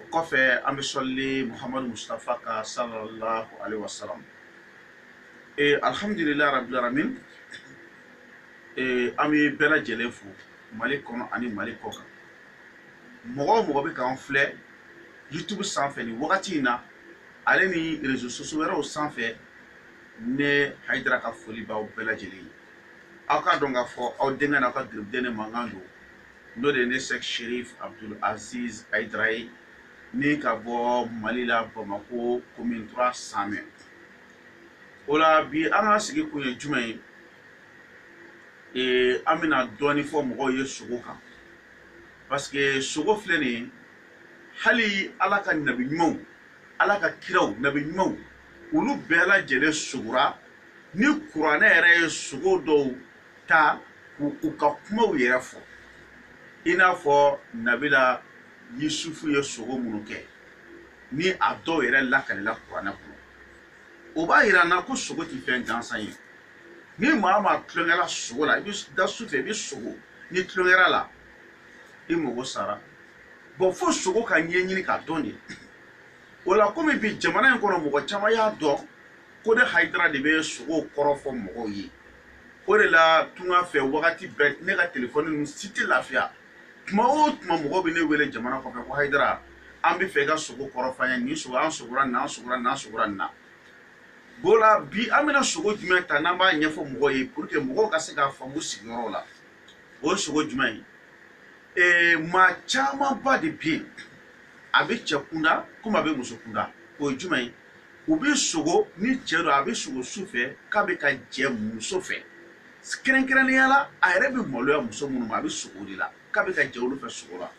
o kɔfɛ an bɛ sɔlili muhamadu mustafa ka sallallahu alaihi wasallam ee alhamdulilayi rabbil alamin ee an bɛ bɛɛ lajɛlen fo mali kɔnɔ ani mali kɔ kan mɔgɔ o mɔgɔ bɛ k'an filɛ youtube sanfɛ nin wagati in na ale ni réseaux sociaux wɛrɛw sanfɛ ne hayidara ka foli b'aw bɛɛ lajɛlen ye aw k'a dɔn k'a fɔ aw denkɛ n'aw ka garibuden ne mankan don n'o de ye ne Sɛki Serif Abudul Aziz Hayidara ye ni ka bɔ Mali la Bamako commune 3 Samɛ o la bi an ka sigi kun ye jumɛn ye ee an bɛna dɔɔni fɔ mɔgɔw ye sogo kan parce que sogo filɛ nin ye hali Ala ka nabi ɲumanw Ala ka kiraw nabi ɲumanw olu bɛɛ lajɛlen sogora ni kuranɛ yɛrɛ ye sogo dɔw ta k'u ka kumaw yɛrɛ fɔ i n'a fɔ nabila yusufu ye sogo minnu kɛ ni a dɔw yɛrɛ lakalila kuranɛ kɔnɔ o b'a yira an na ko sogo tɛ fɛn gansan ye ni maa maa tulon kɛra sogo la i bɛ da su fɛ i bɛ sogo ni tulon kɛra a la i mago sara bon fo sogo ka ɲɛɲini k'a dɔn de o la komi bi jamana in kɔnɔ mɔgɔ caman y'a dɔn ko ne hayidara de bɛ sogow kɔrɔ fɔ mɔgɔw ye o de la tunga fɛ wagati bɛɛ ne ka telefɔni ninnu si tɛ lafiya tuma o tuma mɔgɔw bɛ ne wele jamana kɔfɛ ko hayidara an bɛ fɛ i ka sogo kɔrɔ fɔ an ye nin sogo an sogora nin an sogora nin an sogora nin na o la bi an bɛna sogo jumɛn ta n'an b'a ɲɛfɔ mɔgɔw ye pour que mɔgɔw ka se k'a faamu sigiyɔrɔ la o ye sogo jumɛn ye ee maa camanba de bɛ yen a bɛ cɛ kunda komi a bɛ muso kunda o ye jumɛn ye u bɛ sogo ni cɛ don a bɛ sogo su fɛ k'a bɛ ka jɛ muso fɛ kɛrɛnkɛrɛnnenya la a yɛrɛ bɛ maloya muso minnu ma a bɛ sogo de la k'a bɛ ka jɛ olu fɛ sogo la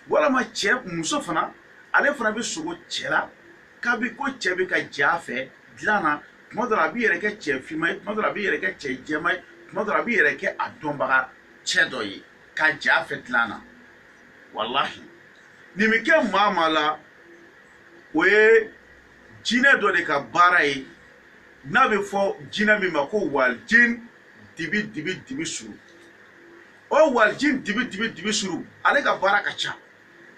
walama cɛ muso fana ale fana bɛ sogo cɛ la k'a bɛ ko cɛ bɛ ka jɛ a fɛ dilan na tuma dɔ la a b'i yɛrɛ kɛ cɛ finman ye tuma dɔ la a b'i yɛrɛ kɛ cɛ jɛman ye tuma dɔ la a b'i yɛrɛ kɛ a dɔnbaga cɛ dɔ ye ka jɛ a fɛ dilan na walahi nin bɛ kɛ maa maa la o ye jinɛ dɔ de ka baara ye n'a bɛ fɔ jinɛ min ma ko walijin dibi dibi dibi suru o walijin dibi dibi dibi suru ale ka baara ka ca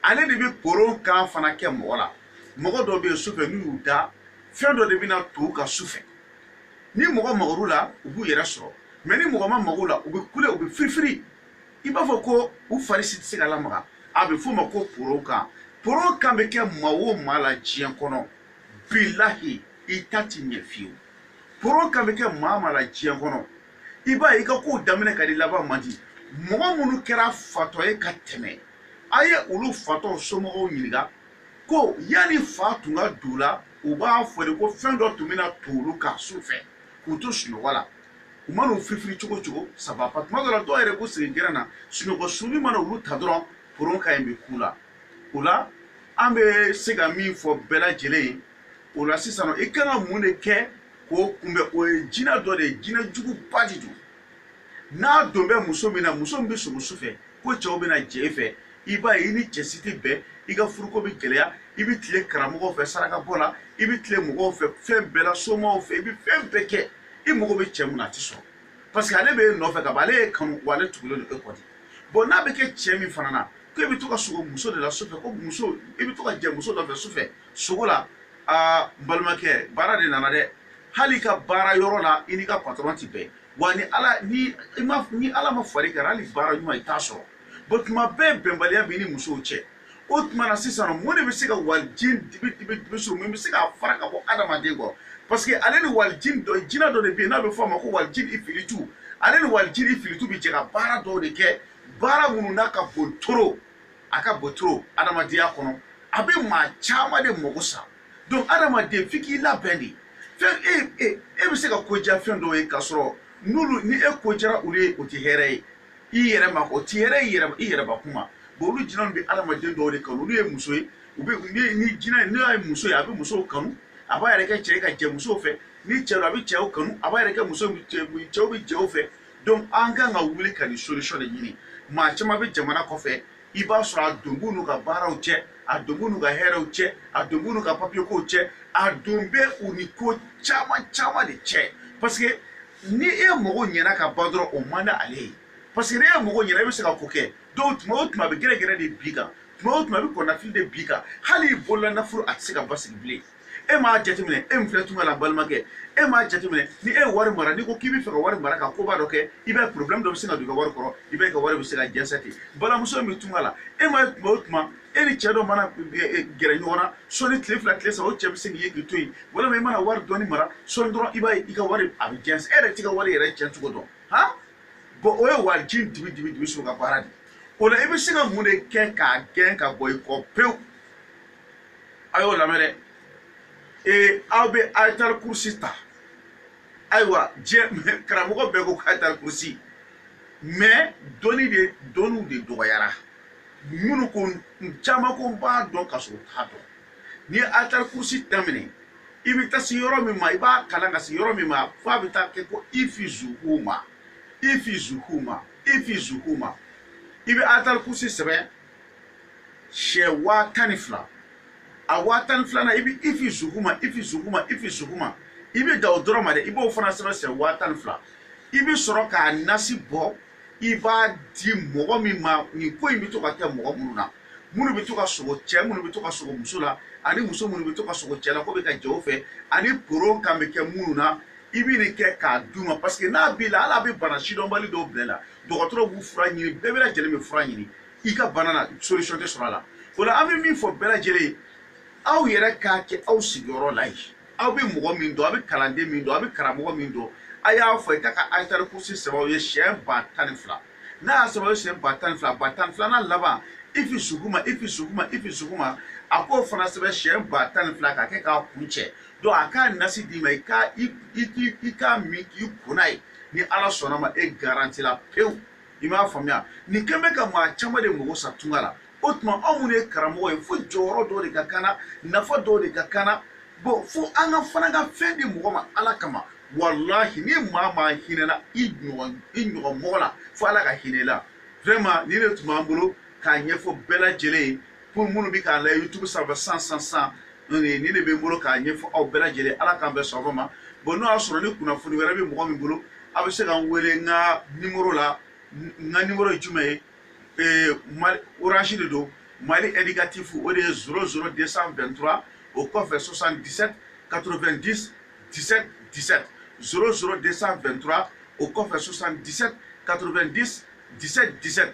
ale de bɛ koron kan fana kɛ mɔgɔ la mɔgɔ dɔw bɛ yen sufɛ n'u y'u da fɛn dɔ de bɛna to u kan sufɛ ni mɔgɔ magara u la u b'u yɛrɛ sɔrɔ mais ni mɔgɔ ma maga u la u bɛ kule u bɛ firifiri i b'a fɔ ko u fari si tɛ se ka lamaga a bɛ f'o ma ko poro kan poro kan bɛ kɛ maa o maa la diɲɛ kɔnɔ bilahi i ta tɛ ɲɛ fiyewu poro kan bɛ kɛ maa maa la diɲɛ kɔnɔ i b'a ye i ka kow daminɛ ka di laban man di mɔgɔ minnu kɛra fatɔ ye ka tɛmɛ a ye olu fatɔw somɔgɔw ɲininka ko yanni fa tun ka don u la u b'a fɔ de ko fɛn dɔ tun bɛna to olu kan su fɛ k'u to sunɔgɔ la u mana u firifiri cogo o cogo ça va pas tuma dɔ la dɔw yɛrɛ b'u sigi gɛrɛn na sunɔgɔ sɔɔni mana olu ta dɔrɔn poron ka ɲi bɛ k'u la o la an bɛ se ka min fɔ bɛɛ lajɛlen ye o la sisan i kan ka mun de kɛ k'o kunbɛn o ye jinɛ dɔ de ye jinɛ juguba de don n'a don bɛ muso min na muso min bɛ sogo su fɛ ko cɛw bɛna jɛ e fɛ i b'a ye i ni cɛ si tɛ bɛn i ka furuko bɛ gɛlɛya i bɛ tile karamɔgɔw fɛ sarakabɔ la i bɛ tile mɔgɔw fɛ fɛn bɛɛ la somaw fɛ i bɛ fɛn bɛɛ kɛ i mago bɛ cɛ min na a tɛ sɔrɔ parce que ale bɛ e nɔfɛ ka ban ale y'e kanu wa ale tugulen don e kɔ de bon n'a bɛ kɛ cɛ min fana na ko e bɛ to ka sogo muso de la sufɛ ko muso i bɛ to ka jɛ muso dɔ fɛ sufɛ sogo la aa n balimakɛ baara de nana dɛ hali i ka baara yɔrɔ la i n'i ka patɔrɔn tɛ bɛn wa ni ala ni i ma ni ala ma far'i kan hali baara ɲuman i t'a sɔrɔ bon tuma bɛɛ bɛnbaliya b'i ni musow cɛ o tuma na sisan mun de bɛ se ka walijini dibi suru mun bɛ se k'a fara ka bɔ adamaden kɔ parce que ale ni walijini dɔ jinɛ dɔ de bɛ yen n'a bɛ fɔ a ma ko walijini ifilitu ale ni walijini ifilitu bɛ jɛ ka baara dɔw de kɛ baara minnu n'a ka bon trop a ka bon trop adamadenya kɔnɔ a bɛ maa caman de mago sa donc adamaden f'i k'i labɛn de fɛn e bɛ se ka ko diya fɛn dɔw ye k'a sɔrɔ n'olu ni e ko diyara olu ye o tɛ hɛrɛ ye i yɛrɛ ma o tɛ hɛrɛ ye i yɛrɛ bakun ma bon olu jinɛw bɛ adamaden dɔw de kanu olu ye muso ye u bɛ ni ni jinɛ n'o ye muso ye a bɛ musow kanu a b'a yɛrɛ kɛ cɛ ye ka jɛ musow fɛ ni cɛ don a bɛ cɛw kanu a b'a yɛrɛ kɛ muso cɛw bɛ jɛ u fɛ donc an kan ka wuli ka nin solution de ɲini maa caman bɛ jamana kɔfɛ i b'a sɔrɔ a don b'u n'u ka baaraw cɛ a don b'u n'u ka hɛrɛw cɛ a don b'u n'u ka papiyekow cɛ a don bɛ u ni ko caman caman de cɛ parce que ni e mago ɲɛna ka ban dɔrɔn o man di ale ye parce que ni e mago ɲɛna e bɛ se ka ko kɛ donc tuma o tuma a bɛ gɛrɛgɛrɛ de bin i kan tuma o tuma a bɛ kɔnɔnafili de bin i kan hali i bolola nafolo a tɛ se ka basigi bilen e m'a jateminɛ e min filɛ tunga la balimakɛ e m'a jateminɛ ni e ye wari mara n'i ko k'i bɛ fɛ ka wari mara ka koba dɔ kɛ i b'a ye problème dɔ bɛ sin ka don i ka wari kɔrɔ i b'a ye i ka wari bɛ se ka jɛnsɛ ten balimamuso min bɛ tunga la e m'a ye tuma o tuma e ni cɛ dɔ mana gɛrɛ ɲɔgɔn na sɔni tile fila tile saba o cɛ bɛ se k'i ye k'i to yen walima i mana wari dɔɔni mara sɔni dɔrɔn i b'a ye i ka wari a bɛ jɛnsɛ e yɛrɛ t'i ka wari yɛrɛ cɛn cogo dɔn han bon o ye walijini dibi so ka baara de o la i bɛ se ka mun de kɛ k'a gɛn ka bɔ i kɔ pewu a y'o lamɛn dɛ ee aw bɛ ayatal kurusi ta ayiwa diɲɛ karamɔgɔ bɛɛ ko ayatal kurusi mais dɔnni de dɔnniw de dɔgɔyara minnu ko caman ko n b'a dɔn ka sɔrɔ u t'a dɔn n'i ye ayatal kurusi daminɛ i bɛ taa se yɔrɔ min ma i b'a kalan ka se yɔrɔ min ma f'a bɛ taa kɛ ko ifi zuguma ifi zuguma ifi zuguma i bɛ ayatal kurusi sɛbɛn siɲɛ waa tan ni fila a waa tan ni filanan i bɛ ifi zuguma ifi zuguma ifi zuguma i bɛ da o dɔrɔn ma dɛ i b'o fana sɛbɛn siɲɛ waa tan ni fila i bɛ sɔrɔ k'a nasi bɔ i b'a di mɔgɔ min ma nin ko in bɛ to ka kɛ mɔgɔ minnu na minnu bɛ to ka sogo cɛ minnu bɛ to ka sogo muso la ani muso minnu bɛ to ka sogo cɛ la k'o bɛ ka jɛ o fɛ ani poron kan bɛ kɛ minnu na i bɛ nin kɛ k'a d'u ma parce que n'a b'i la hali a bɛ bana sidɔnbali dɔw bila i la dɔgɔtɔrɔ b'u fura ɲini bɛɛ bɛɛ lajɛlen bɛ fura ɲini i ka bana na solution tɛ sɔrɔ a la o la an bɛ min fɔ bɛɛ lajɛlen ye aw yɛrɛ k'a kɛ aw sigiyɔrɔ la yen aw bɛ mɔgɔ min dɔn aw bɛ kalanden min dɔn aw bɛ karamɔgɔ min dɔn a y'a fɔ i ka ka ayatal kursi sɛbɛn aw ye siɲɛ ba tan ni fila n'a y'a sɛbɛn aw ye siɲɛ ba tan ni fila ba tan ni filanan laban ifi zuguma ifi zuguma ifi zuguma a k'o fana sɛbɛn siɲɛ ba tan ni fila k'a kɛ k'a kuncɛ donc a k'a nasi d'i ma i ka i k'a min k'i ko n'a ye ni ala sɔnna ma e garanti la pewu i m'a faamuya nin kɛlen bɛ ka maa caman de mago sa tunga la o tuma anw minnu ye karamɔgɔ ye fo jɔyɔrɔ dɔw de ka k'an na nafa dɔw de ka k'an na bon fo an ka fana ka fɛn di mɔgɔ ma ala kama walahi ni maa maa hinɛna i ɲɔgɔn i ɲɔgɔn mɔgɔ la fo ala ka hinɛ i la vraiment nin de tun b'an bolo k'a ɲɛfɔ bɛɛ lajɛlen ye pour minnu bɛ k'an lajɛ youtube sanfɛ san san san nin de bɛ n bolo k'a ɲɛfɔ aw bɛɛ lajɛlen ye ala k'an bɛɛ sɔn ma bon n'o y'a sɔrɔ ni kunnafoni wɛrɛ bɛ mɔgɔ min bolo a bɛ se ka n wele n ka nimoro la n ka nimoro ye jumɛn ye ee mali orange de don mali indicatif o de ye zero zero 223 o kɔfɛ 77 90 17 17 zero zero 223 o kɔfɛ 77 90 17 17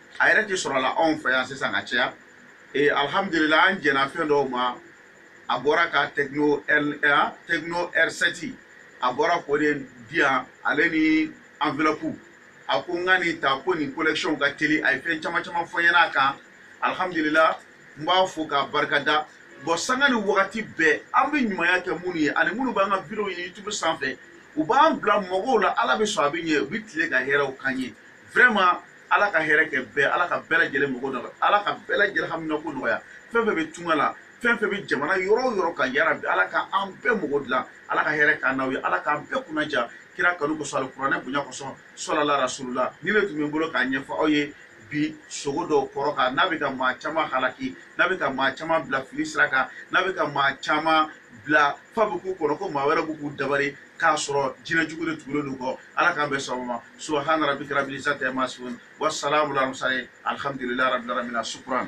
a yɛrɛ tɛ sɔrɔ la anw fɛ yan sisan ka caya ee alihamudulila an jɛnna fɛn dɔw ma a bɔra ka tecno r tecno r7 a bɔra k'o de di yan ale ni enveloppe a ko n ka nin ta ko nin kɔnɛkisiyɔn ka teli a ye fɛn caman caman fɔ n ɲɛna a kan alihamudulila n b'a fo k'a barika da bon sanga ni wagati bɛɛ an bɛ ɲumanya kɛ minnu ye ani minnu b'an ka videow ye youtube sanfɛ u b'an bila mɔgɔw la ala bɛ sɔn a bɛ ɲɛ u bɛ tila ka hɛrɛw k'an ye vraiment ala ka hɛrɛ kɛ bɛɛ ala ka bɛɛ lajɛlen mago nɔgɔya ala ka bɛɛ lajɛlen haminako nɔgɔya fɛn fɛn bɛ tunga la fɛn fɛn bɛ jamana yɔrɔ o yɔrɔ kan yarabi ala ka an bɛɛ mago dilan ala ka hɛrɛ k'an n'aw ye ala k'an bɛɛ kunnaja kira kanu kosɔn alikuranɛ bonya kosɔn sɔlala rasulula nin de tun bɛ n bolo k'a ɲɛfɔ aw ye bi sogo dɔw kɔrɔ kan n'a bɛ ka maa caman halaki n'a bɛ ka maa caman bila fili sira kan n'a bɛ ka maa caman bila f'a bɛ k'u kɔnɔ ko maa wɛrɛ bɛ k'u dabari k'a sɔrɔ jinɛ jugu de tugulen don u kɔ ala k'an bɛɛ sababa subahana rabi karabi sa tɛ ma sun wa sala wula musa ye alihamdulilayi rabi rabi na sukuran